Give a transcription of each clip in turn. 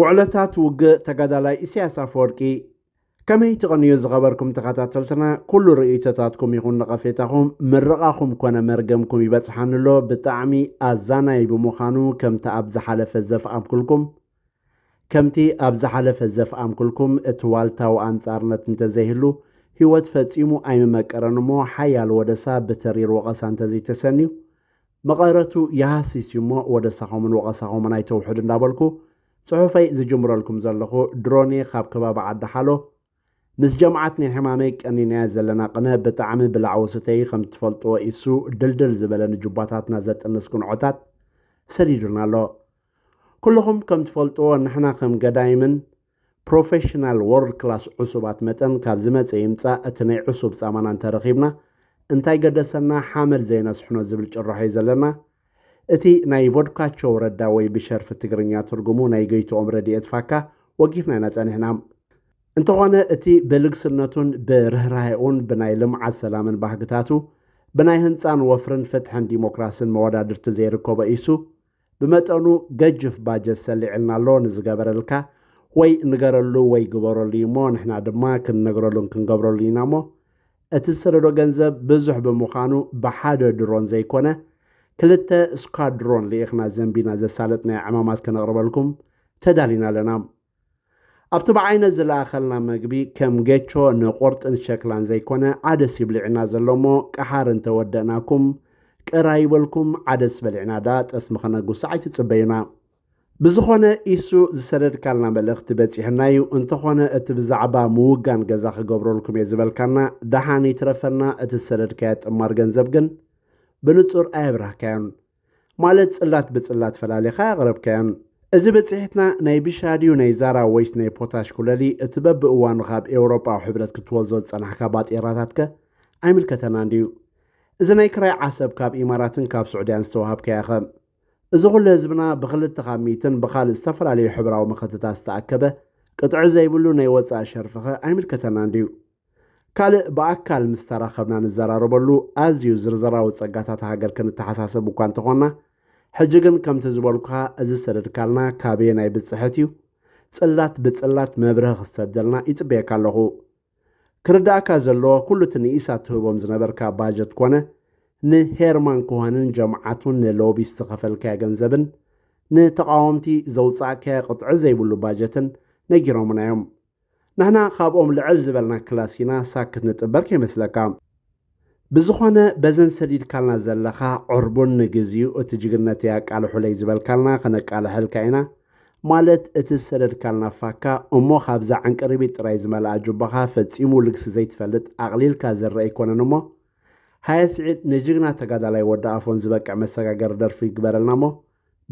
ውዕለታት ውግእ ተጋዳላይ ኢሳያስ ኣፈወርቂ ከመይ ትቐንዩ ዝኸበርኩም ተኸታተልትና ኩሉ ርእይቶታትኩም ይኹን ነቐፌታኹም ምርቓኹም ኮነ መርገምኩም ይበጽሓኒ ኣሎ ብጣዕሚ ኣዛናይ ብምዃኑ ከምቲ ኣብ ዝሓለፈ ዘፍኣምኩልኩም ከምቲ ኣብ ዝሓለፈ ዘፍኣምኩልኩም እቲ ዋልታዊ ኣንጻርነት እንተዘይህሉ ህይወት ፈጺሙ ኣይምመቀረን እሞ ሓያል ወደሳ ብተሪር ወቐሳ እንተዘይተሰንዩ መቐረቱ ይሃሲስ እዩሞ ወደሳኹምን ወቐሳኹምን ኣይተውሕዱ እንዳበልኩ ጽሑፈይ ዝጅምረልኩም ዘለኹ ድሮኔ ካብ ከባቢ ዓዲ ሓሎ ምስ ጀምዓትኒ ሕማመይ ቀኒናያ ዘለና ቅነ ብጣዕሚ ብላዕ ወስተይ ከም ትፈልጥዎ ኢሱ ድልድል ዝበለ ንጁባታትና ዘጥንስ ግንዖታት ሰዲዱና ኣሎ ኩልኹም ከም ትፈልጥዎ ንሕና ከም ገዳይምን ፕሮፈሽናል ዎርልድ ክላስ ዑሱባት መጠን ካብ ዝመጸ ይምጻእ እቲ ናይ ዑሱብ ጻማና እንተረኺብና እንታይ ገደሰና ሓመድ ዘይነስሕኖ ዝብል ጭራሖ'ዩ ዘለና። እቲ ናይ ቮድካቸው ረዳ ወይ ብሸርፊ ትግርኛ ትርጉሙ ናይ ገይትኦም ረዲኤት ፋካ ወጊፍና ኢና ጸኒሕና። እንተኾነ እቲ ብልግስነቱን ብርህራሄኡን ብናይ ልምዓት ሰላምን ባህግታቱ ብናይ ህንጻን ወፍርን ፍትሕን ዲሞክራስን መወዳድርቲ ዘይርከቦ ኢሱ ብመጠኑ ገጅፍ ባጀት ሰሊዕልና ኣሎ ንዝገበረልካ ወይ ንገረሉ ወይ ግበረሉ እዩ እሞ ንሕና ድማ ክንነግረሉን ክንገብረሉን ኢና እሞ እቲ ዝሰደዶ ገንዘብ ብዙሕ ብምዃኑ ብሓደ ድሮን ዘይኮነ ክልተ ስኳድሮን ልኢኽና ዘንቢና ዘሳለጥናዮ ዕማማት ከነቕርበልኩም ተዳሊና ኣለና። ኣብቲ ብዓይነት ዝለኣኸልና መግቢ ከም ጌቾ ንቑርጥን ሸክላን ዘይኮነ ዓደስ ይብልዕና ዘሎ እሞ ቀሓር እንተወደእናኩም ቅር ኣይበልኩም ዓደስ በሊዕና ደኣ ጠስሚ ከነጉስዕ ኣይትጽበዩና። ብዝኾነ ኢሱ ዝሰደድካልና መልእኽቲ በጺሕና እዩ እንተኾነ እቲ ብዛዕባ ምውጋን ገዛ ክገብረልኩም እየ ዝበልካና ደሓን ይትረፈና እቲ ዝሰደድካዮ ጥማር ገንዘብ ግን ብንጹር ኣየብራህካዮን ማለት ጽላት ብጽላት ፈላሊኻ ኣቕረብካዮን። እዚ ብጽሒትና ናይ ቢሻ ድዩ ናይ ዛራ ወይስ ናይ ፖታሽ ኩለሊ እቲ በብእዋኑ ካብ ኤውሮጳዊ ሕብረት ክትወዞ ዝጸናሕካ ባጤራታትከ ኣይምልከተናን ድዩ? እዚ ናይ ክራይ ዓሰብ ካብ ኢማራትን ካብ ሱዕድያን ዝተዋሃብካዮኸ? እዚ ኩሉ ህዝብና ብክልተ ካብ ሚእትን ብካልእ ዝተፈላለዩ ሕብራዊ መኸተታት ዝተኣከበ ቅጥዒ ዘይብሉ ናይ ወጻኢ ሸርፊኸ ኣይምልከተናን ድዩ? ካልእ ብኣካል ምስ ተራኸብና ንዘራረበሉ ኣዝዩ ዝርዝራዊ ጸጋታት ሃገር ክንተሓሳሰብ እኳ እንተኾንና ሕጂ ግን ከምቲ ዝበልኩኻ እዚ ዝሰደድካልና ካበየናይ ብጽሕት እዩ ጽላት ብጽላት መብርህ ክሰደልና ይጽበየካ ኣለኹ ክርዳእካ ዘለዎ ኩሉ እቲ ንኢሳት ትህቦም ዝነበርካ ባጀት ኮነ ንሄርማን ኮሃንን ጀምዓቱን ንሎቢ ዝተኸፈልካዮ ገንዘብን ንተቃወምቲ ዘውጻእካዮ ቅጥዒ ዘይብሉ ባጀትን ነጊሮምና እዮም ንሕና ካብኦም ልዕል ዝበልና ክላስ ኢና ሳክት ንጥበር ከይመስለካ ብዝኾነ በዘን ሰዲድካልና ዘለኻ ዕርቡን ንግዚኡ እቲ ጅግነተይ ኣቃልሑለይ ዝበልካልና ከነቃልሐልካ ኢና ማለት እቲ ዝሰደድካልና ፋካ እሞ ካብዛ ዕንቅሪቢት ጥራይ ዝመልኣ ጁባኻ ፈጺሙ ልግሲ ዘይትፈልጥ ኣቕሊልካ ዝርእ ኣይኮነን እሞ ሃየ ስዒድ ንጅግና ተጋዳላይ ወዲ ኣፎን ዝበቅዕ መሰጋገሪ ደርፊ ግበረልና እሞ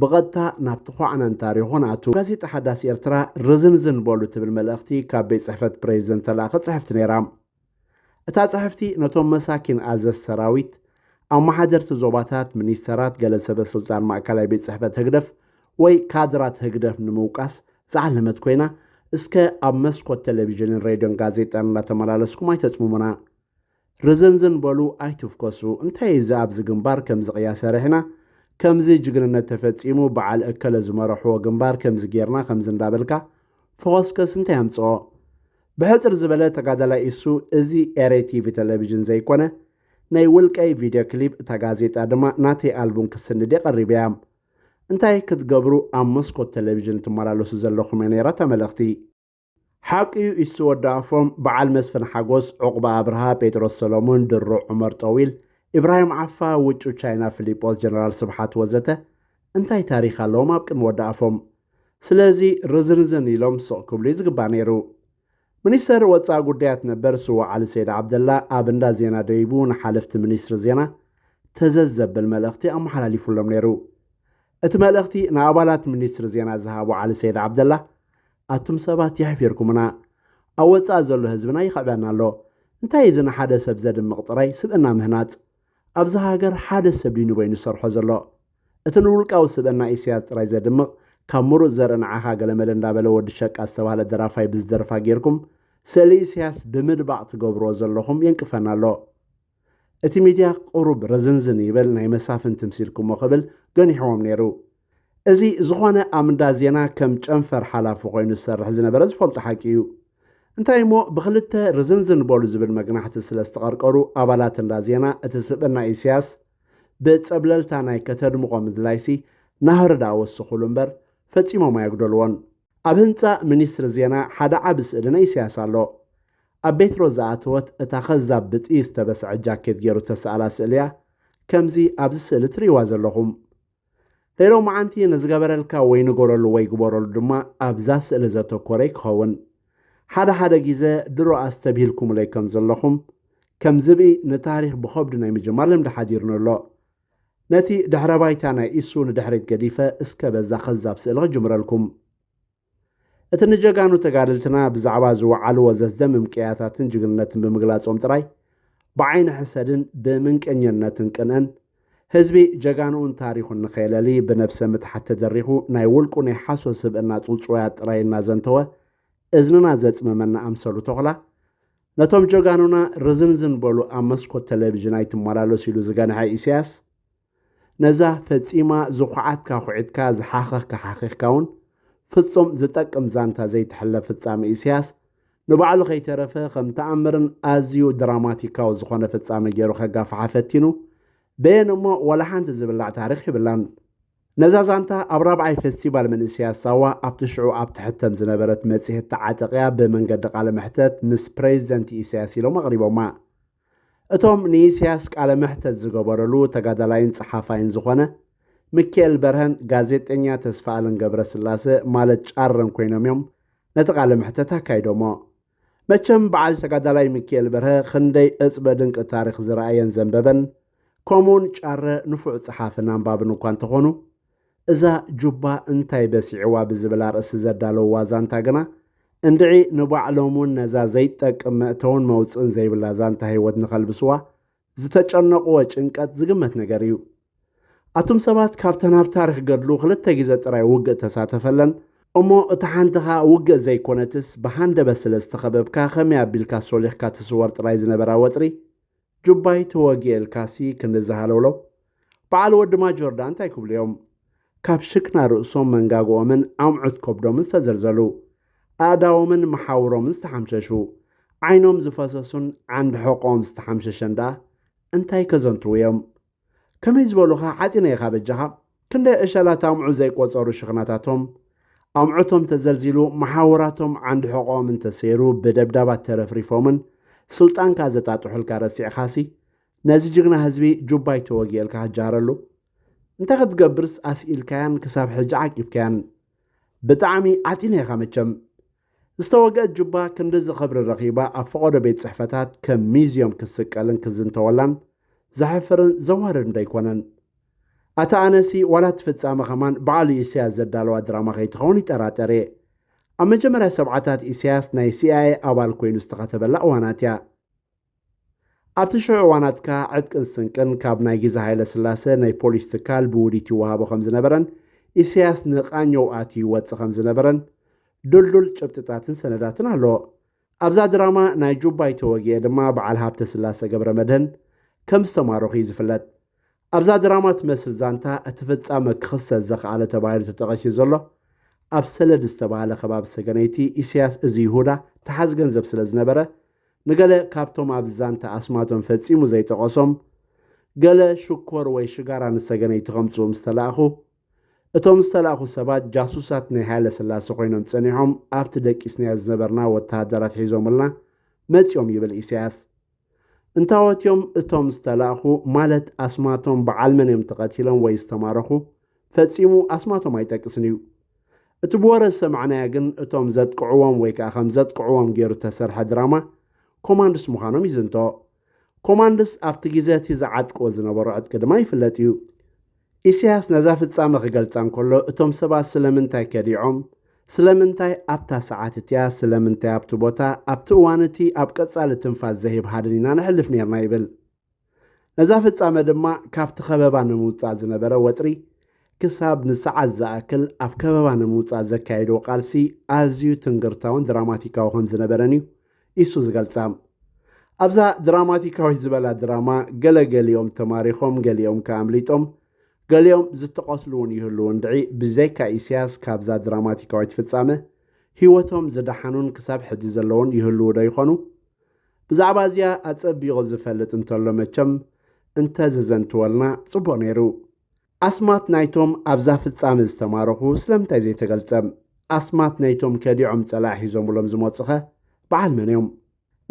ብቐጥታ ናብ ተዃዕነን ታሪኹን ኣትው። ጋዜጣ ሓዳስ ኤርትራ ርዝንዝን በሉ ትብል መልእኽቲ ካብ ቤት ጽሕፈት ፕረዚደንት ተላእኺ ጽሕፍቲ ነይራ። እታ ጽሕፍቲ ነቶም መሳኪን ኣዘዝቲ ሰራዊት፣ ኣመሓደርቲ ዞባታት፣ ሚኒስተራት፣ ገለ ሰበ ስልጣን ማእከላይ ቤት ጽሕፈት ህግደፍ ወይ ካድራት ህግደፍ ንምውቃስ ዝዓለመት ኮይና እስከ ኣብ መስኮት ተለቪዥንን ሬድዮን ጋዜጣን እንዳተመላለስኩም ኣይተጽምሙና። ርዝንዝን በሉ ኣይትፍኮሱ እንታይ እዚ ኣብዚ ግንባር ከምዚ ቅያ ሰሪሕና ከምዚ ጅግንነት ተፈጺሙ በዓል እከለ ዝመረሕዎ ግንባር ከምዚ ጌርና ከምዚ እንዳበልካ ፈኾስከስ እንታይ ኣምጽኦ ብሕጽር ዝበለ ተጋዳላይ ኢሱ እዚ ኤሬ ቲቪ ተለቪዥን ዘይኮነ ናይ ውልቀይ ቪድዮ ክሊፕ እታ ጋዜጣ ድማ ናተይ ኣልቡም ክትስንድ እየ ቀሪበ እያ እንታይ ክትገብሩ ኣብ መስኮት ተለቪዥን ትመላለሱ ዘለኹም እያ ነይራ እታ መልእኽቲ ሓቂዩ ኢሱ ወዲ ኣፎም በዓል መስፍን ሓጎስ ዑቕባ ኣብርሃ ጴጥሮስ ሰሎሙን ድሮ ዑመር ጠዊል ኢብራሂም ዓፋ ውጩ ቻይና ፊሊጶስ ጀነራል ስብሓት ወዘተ እንታይ ታሪኽ ኣለዎም ኣብ ቅድሚ ወዲ ኣፎም ስለዚ ርዝንዝን ኢሎም ስቕ ክብሉ እዩ ዝግባእ ነይሩ ሚኒስተር ወፃኢ ጉዳያት ነበር ስዋ ዓሊ ሰይድ ዓብደላ ኣብ እንዳ ዜና ደይቡ ንሓለፍቲ ሚኒስትሪ ዜና ተዘዝ ዘብል መልእኽቲ ኣመሓላሊፉሎም ነይሩ እቲ መልእኽቲ ንኣባላት ሚኒስትሪ ዜና ዝሃቡ ዓሊ ሰይድ ዓብደላ ኣቱም ሰባት የሕፊርኩምና ኣብ ወጻኢ ዘሎ ህዝብና ይኽዕበና ኣሎ እንታይ እዩ እዚ ንሓደ ሰብ ዘድምቕ ጥራይ ስብእና ምህናጽ ኣብዛ ሃገር ሓደ ሰብ ድዩ ንበይኑ ዝሰርሖ ዘሎ እቲ ንውልቃዊ ስብእና ኢሰያስ ጥራይ ዘድምቕ ካብ ምሩጽ ዘርኢ ንዓኻ ገለመለ እንዳበለ ወዲ ሸቃ ዝተባህለ ደራፋይ ብዝደርፋ ጌርኩም ስእሊ ኢሰያስ ብምድባቕ ትገብርዎ ዘለኹም የንቅፈና ኣሎ እቲ ሚድያ ቁሩብ ረዝንዝን ይበል ናይ መሳፍንቲ ምሲልኩሞ ክብል ገኒሕዎም ነይሩ። እዚ ዝኾነ ኣብ እንዳ ዜና ከም ጨንፈር ሓላፊ ኮይኑ ዝሰርሕ ዝነበረ ዝፈልጦ ሓቂ እዩ። እንታይ እሞ ብኽልተ ርዝንዝን በሉ ዝብል መግናሕቲ ስለ ዝተቐርቀሩ ኣባላት እንዳ ዜና እቲ ስብእና ኢሰያስ ብጸብለልታ ናይ ከተድምቖ ምድላይሲ ናህሪ ድኣ ወሰኹሉ እምበር ፈጺሞም ኣየጉደልዎን። ኣብ ህንጻ ሚኒስትሪ ዜና ሓደ ዓቢ ስእሊ ናይ ኢሳያስ ኣሎ። ኣብ ቤት ሮዝ ዝኣተወት እታ ከዛብ ብጥይት ዝተበስዐ ጃኬት ጌሩ ዝተሳእላ ስእሊ'ያ ከምዚ ኣብዚ ስእሊ ትርእይዋ ዘለኹም። ናይ ሎምዓንቲ ንዝገበረልካ ወይ ንገረሉ ወይ ግበረሉ ድማ ኣብዛ ስእሊ ዘተኮረ'ዩ ክኸውን። ሓደ ሓደ ጊዘ ድሮ ኣስተብሂልኩምለይ ከምዘለኹም ከም ዝብኢ ንታሪኽ ብኸብዱ ናይ ምጅማር ልምዲ ሓዲሩኒ ኣሎ። ነቲ ድሕረ ባይታ ናይ ኢሱ ንድሕሪት ገዲፈ እስከ በዛ ከዛብ ስእሊ ክጅምረልኩም። እቲ ንጀጋኑ ተጋደልትና ብዛዕባ ዝወዓልዎ ዘስደምም ቅያታትን ጅግንነትን ብምግላጾም ጥራይ ብዓይኒ ሕሰድን ብምንቀኘነትን ቅንእን ህዝቢ ጀጋኑኡን ታሪኹን ንኸየለሊ ብነብሰ ምትሓት ተደሪኹ ናይ ውልቁ ናይ ሓሶት ስብእና ጽውጽዋያት ጥራይ እናዘንተወ እዝንና ዘጽመመና ኣምሰሉ ተኹላ ነቶም ጀጋኑና ርዝንዝን በሉ ኣብ መስኮት ቴሌቪዥን ኣይትመላለሱ ኢሉ ዝገንሐ ኢሳያስ ነዛ ፈጺማ ዝኹዓትካ ኩዒትካ ዝሓኸኽካ ሓኺኽካ እውን ፍጹም ዝጠቅም ዛንታ ዘይትሕለፍ ፍጻሜ ኢሳያስ ንባዕሉ ከይተረፈ ከም ተኣምርን ኣዝዩ ድራማቲካዊ ዝኾነ ፍጻሜ ገይሩ ከጋፍሓ ፈቲኑ በየን እሞ ዋላ ሓንቲ ዝብላዕ ታሪኽ ይብላን ነዛ ዛንታ ኣብ ራብዓይ ፈስቲቫል መንእሰያት ሳዋ ኣብቲ ሽዑ ኣብ ትሕተም ዝነበረት መጽሔት ተዓጠቕያ ብመንገዲ ቃለ መሕተት ምስ ፕሬዚደንት ኢሳያስ ኢሎም ኣቕሪቦማ። እቶም ንኢሳያስ ቃለ መሕተት ዝገበረሉ ተጋዳላይን ጸሓፋይን ዝኾነ ምክኤል በርሀን ጋዜጠኛ ተስፋኣለም ገብረስላሰ ማለት ጫረን ኮይኖም እዮም ነቲ ቃለ መሕተት ኣካይዶሞ። መቸም በዓል ተጋዳላይ ሚኪኤል በርሀ ኽንደይ እፅበ ድንቂ ታሪኽ ዝረኣየን ዘንበበን ከምኡውን ጫረ ንፉዕ ፀሓፍን ኣንባብን እኳ እንተኾኑ እዛ ጁባ እንታይ በሲዕዋ ብዝብል ኣርእስቲ ዘዳለውዋ ዛንታ ግና እንድዒ ንባዕሎም እውን ነዛ ዘይትጠቅም መእተውን መውፅእን ዘይብላ ዛንታ ህይወት ንኸልብስዋ ዝተጨነቕዎ ጭንቀት ዝግመት ነገር እዩ። ኣቱም ሰባት ካብተን ኣብ ታሪኽ ገድሉ ክልተ ግዜ ጥራይ ውግእ እተሳተፈለን እሞ እታ ሓንቲ ከኣ ውግእ ዘይኮነትስ ብሃንደበት ስለ ዝተኸበብካ ከመይ ኣቢልካ ሶሊኽካ ትስወር ጥራይ ዝነበራ ወጥሪ ጁባይ ተወጊኤ ኢልካሲ ክንድዚ ሃለውለው በዓል ወዲ ማጆርዳ እንታይ ክብሉ እዮም? ካብ ሽክና ርእሶም መንጋግኦምን ኣምዑት ከብዶምን ዝተዘልዘሉ፣ ኣእዳዎምን መሓውሮምን ዝተሓምሸሹ፣ ዓይኖም ዝፈሰሱን ዓንዲ ሕቖኦም ዝተሓምሸሸን ደኣ እንታይ ከዘንትዉ እዮም? ከመይ ዝበሉኻ ሓጺነ ኢኻ በጃኻ? ክንደይ ዕሸላት ኣምዑ ዘይቆጸሩ ሽክናታቶም ኣምዑቶም ተዘልዚሉ መሓውራቶም ዓንዲ ሕቖኦምን ተሰይሩ ብደብዳባት ተረፍሪፎምን ስልጣንካ ዘጣጥሑልካ ረሲዕኻሲ ነዚ ጅግና ህዝቢ ጁባ ኣይተወግኤልካ ክጃረሉ እንታይ ክትገብርስ ኣስኢልካያን ክሳብ ሕጂ ዓቂብካያን ብጣዕሚ ዓጢነ ኢኻ መቸም ዝተወግአት ጁባ ክንድዚ ክብሪ ረኺባ ኣብ ፈቐዶ ቤት ጽሕፈታት ከም ሚዝዮም ክትስቀልን ክዝንተወላን ዘሕፍርን ዘዋርድን ዶ ኣይኮነን ኣታ ኣነሲ ዋላ እቲ ፍጻመ ከማን በዓሉ ኢሳያስ ዘዳለዋ ድራማ ከይትኸውን ይጠራጠር እየ ኣብ መጀመርያ ሰብዓታት ኢሳያስ ናይ ሲኣይኤ ኣባል ኮይኑ ዝተኸተበላ እዋናት እያ ኣብቲ ሽዑ እዋናት ከኣ ዕጥቅን ስንቅን ካብ ናይ ግዜ ሃይለ ስላሰ ናይ ፖሊስ ትካል ብውዲት ይወሃቦ ከም ዝነበረን ኢሳያስ ንቃኘው ኣትዩ ይወጽእ ከም ዝነበረን ዱልዱል ጭብጥታትን ሰነዳትን ኣሎ። ኣብዛ ድራማ ናይ ጁባይ ተወጊኤ ድማ በዓል ሃብተ ስላሰ ገብረመድህን ከም ዝተማረኹ እዩ ዝፍለጥ። ኣብዛ ድራማ ትመስል ዛንታ እቲ ፍጻመ ክኽሰት ዘኽኣለ ተባሂሉ ተጠቐሽዩ ዘሎ ኣብ ሰለድ ዝተባህለ ከባቢ ሰገነይቲ ኢሰያስ እዚ ይሁዳ ተሓዝ ገንዘብ ስለ ዝነበረ ንገለ ካብቶም ኣብዚ ዛንታ ኣስማቶም ፈጺሙ ዘይጠቐሶም ገለ ሽኮር ወይ ሽጋራ ንሰገነይቲ ከምጽኡ ምስ ተላእኹ እቶም ዝተላእኹ ሰባት ጃሱሳት ናይ ሃይለ ስላሰ ኮይኖም ጸኒሖም ኣብቲ ደቂስናዮ ዝነበርና ወተሃደራት ሒዞምልና መጺኦም ይብል ኢሳያስ እንታዎት እዮም እቶም ዝተላእኹ ማለት ኣስማቶም በዓል መን እዮም ተቐቲሎም ወይ ዝተማረኹ ፈጺሙ ኣስማቶም ኣይጠቅስን እዩ። እቲ ብወረ ዝሰማዕናዮ ግን እቶም ዘጥቅዕዎም ወይ ከዓ ከም ዘጥቅዕዎም ገይሩ ተሰርሐ ድራማ ኮማንድስ ምዃኖም ይዝንቶ። ኮማንድስ ኣብቲ ግዜ እቲ ዝዓጥቅዎ ዝነበሩ ዕጥቂ ድማ ይፍለጥ እዩ። ኢሳያስ ነዛ ፍጻመ ክገልጻ እንከሎ እቶም ሰባት ስለምንታይ ከዲዖም፣ ስለምንታይ ኣብታ ሰዓት እቲኣ፣ ስለምንታይ ኣብቲ ቦታ፣ ኣብቲ እዋን እቲ ኣብ ቀጻሊ ትንፋስ ዘሂብ ሃድን ኢና ነሕልፍ ኔርና ይብል። ነዛ ፍጻመ ድማ ካብቲ ከበባ ንምውጻእ ዝነበረ ወጥሪ ክሳብ ንሰዓት ዝኣክል ኣብ ከበባ ንምውጻእ ዘካየድዎ ቃልሲ ኣዝዩ ትንግርታውን ድራማቲካዊ ከም ዝነበረን እዩ ኢሱ ዝገልጻ። ኣብዛ ድራማቲካዊት ዝበላ ድራማ ገለ ገሊኦም ተማሪኾም ገሊኦም ከ ኣምሊጦም ገሊኦም ዝተቐትሉ እውን ይህልዉ እንድዒ ብዘይካ ኢሰያስ ካብዛ ድራማቲካዊት ፍጻመ ህይወቶም ዝደሓኑን ክሳብ ሕጂ ዘለዉን ይህልዉ ዶ ይኾኑ? ብዛዕባ እዚኣ ኣጸቢቑ ዝፈልጥ እንተሎ መቸም እንተ ዘዘንትወልና ጽቡቕ ነይሩ። ኣስማት ናይቶም ኣብዛ ፍጻመ ዝተማረኹ ስለምንታይ ዘይተገልጸ? ኣስማት ናይቶም ከዲዖም ጸላኢ ሒዞምሎም ዝመጹኸ በዓል መን'ዮም?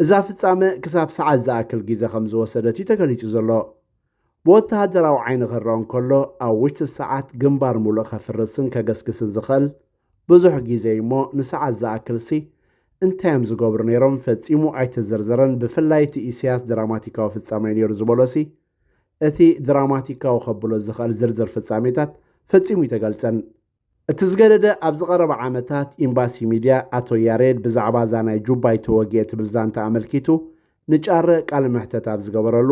እዛ ፍጻመ ክሳብ ሰዓት ዝኣክል ግዜ ከም ዝወሰደት'ዩ ተገሊጹ ዘሎ። ብወተሃደራዊ ዓይኒ ክረኣ እንከሎ ኣብ ውሽጢ ሰዓት ግንባር ምሉእ ከፍርስን ከገስግስን ዝኽእል ብዙሕ ግዜ'ዩ'ሞ ንሰዓት ዝኣክልሲ እንታይ'ዮም ዝገብሩ ነይሮም ፈጺሙ ኣይተዘርዘረን ብፍላይ እቲ ኢሰያስ ድራማቲካዊ ፍጻመ'ዩ ነይሩ ዝበሎሲ እቲ ድራማቲካዊ ከብሎ ዝኸእል ዝርዝር ፍጻሜታት ፈጺሙ ኣይተገልጸን። እቲ ዝገደደ ኣብዚ ቀረባ ዓመታት ኢምባሲ ሚድያ ኣቶ ያሬድ ብዛዕባ እዛ ናይ ጁባይ ተወግኤ ትብል ዛንታ ኣመልኪቱ ንጫረ ቃለ መሕተት ኣብ ዝገበረሉ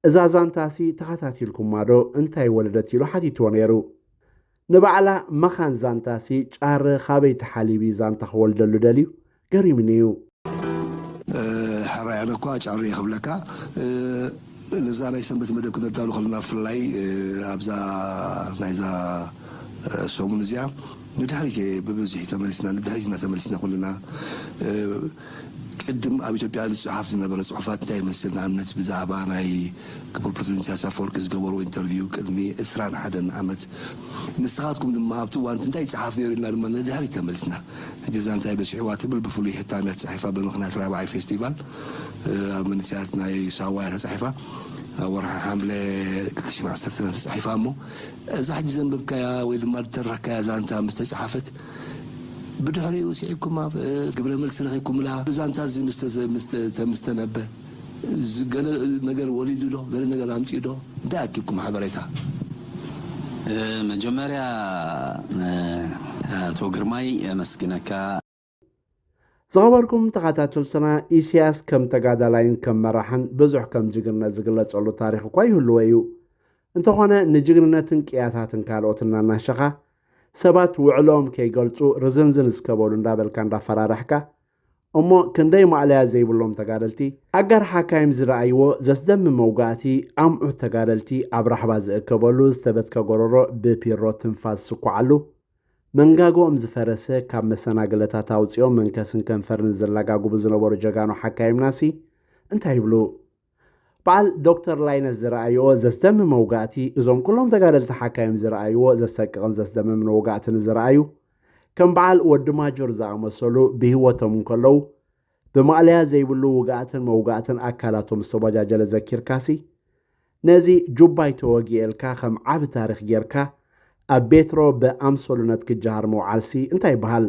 እዛ ዛንታሲ ተኸታቲልኩማዶ እንታይ ወለደት ኢሉ ሓቲትዎ ነይሩ። ንባዕላ መኻን ዛንታሲ ጫረ ኻበይ ተሓሊቢ ዛንታ ክወልደሉ ደልዩ ገሪምኒ እዩ። ሕራይ ኣነ እኳ ጫሬ ክብለካ ነዛ ናይ ሰንበት መደብ ክነዳሉ ከለና ብፍላይ ኣብዛ ናይዛ ሰሙን እዚኣ ንድሕሪት እየ ብብዝሒ ተመሊስና ንድሕሪት እና ተመሊስና ኩልና ቅድም ኣብ ኢትዮጵያ ዝጸሓፍ ዝነበረ ጽሑፋት እንታይ ይመስል፣ ንኣብነት ብዛዕባ ናይ ክቡር ፕረሲደንት ኢሳያስ ኣፈወርቂ ዝገበርዎ ኢንተርቪው ቅድሚ ዕስራን ሓደን ዓመት፣ ንስኻትኩም ድማ ኣብቲ እዋን እቲ እንታይ ይጸሓፍ ነይሩ ኢልና ድማ ንድሕሪት ተመሊስና እገዛ እንታይ በጺሕዋ ትብል ብፍሉይ ሕታም እያ ተጻሒፋ ብምኽንያት ራብዓይ ፌስቲቫል ኣብ መንእሰያት ናይ ሳዋ እያ ተጻሒፋ ኣብ ወርሒ ሓምለ ክልተ ሽሕን ዓሰርተን እያ ተጻሒፋ እሞ እዛ ሕጂ ዘንበብካያ ወይ ድማ ዝተረኽካያ ዛንታ ምስ ተጸሓፈት ብድሕሪኡ ስዒብኩማ ግብረ መልሲ ረኺብኩምላ? እዚ ዛንታ እዚ ምስ ተነበ ገለ ነገር ወሊዱ ዶ? ገለ ነገር ኣምጺኡ ዶ? እንታይ ኣኪብኩም ሓበሬታ? መጀመርያ ኣቶ ግርማይ የመስግነካ። ዝኸበርኩም ተኸታተልትና ኢሲያስ ከም ተጋዳላይን ከም መራሕን ብዙሕ ከም ጅግንነት ዝግለጸሉ ታሪኽ እኳ ይህልዎ እዩ። እንተኾነ ንጅግንነትን ቅያታትን ካልኦት እናናሸኻ ሰባት ውዕሎኦም ከይገልፁ ርዝንዝን እስከ በሉ እንዳበልካ እንዳፈራረሕካ እሞ ክንደይ ማእለያ ዘይብሎም ተጋደልቲ ኣጋር ሓካይም ዝረኣይዎ ዘስደምም መውጋእቲ ኣምዑት ተጋደልቲ ኣብ ራሕባ ዝእከበሉ ዝተበትከ ጎረሮ ብፒሮ ትንፋስ ዝስኳዓሉ መንጋግኦም ዝፈረሰ ካብ መሰናግለታት ኣውፂኦም መንከስን ከንፈርን ዘላጋግቡ ዝነበሩ ጀጋኑ ሓካይምናሲ እንታይ ይብሉ በዓል ዶክተር ላይነህ ዝረኣይዎ ዘስደምም መውጋእቲ እዞም ኩሎም ተጋደልቲ ሓካይም ዝረኣይዎ ዘሰቅቕን ዘስደምምን ወጋእቲ ንዝረኣዩ ከም በዓል ወዲ ማጆር ዝኣመሰሉ ብህይወቶም እንከለዉ ብማእለያ ዘይብሉ ውጋእትን መውጋእትን ኣካላቶም ዝተወጃጀለ ዘኪርካሲ ነዚ ጁባይ ተወጊኤልካ ከም ዓቢ ታሪኽ ጌርካ ኣብ ቤትሮ ብኣምሰሉነት ክጀሃር ምውዓልሲ እንታይ ይበሃል?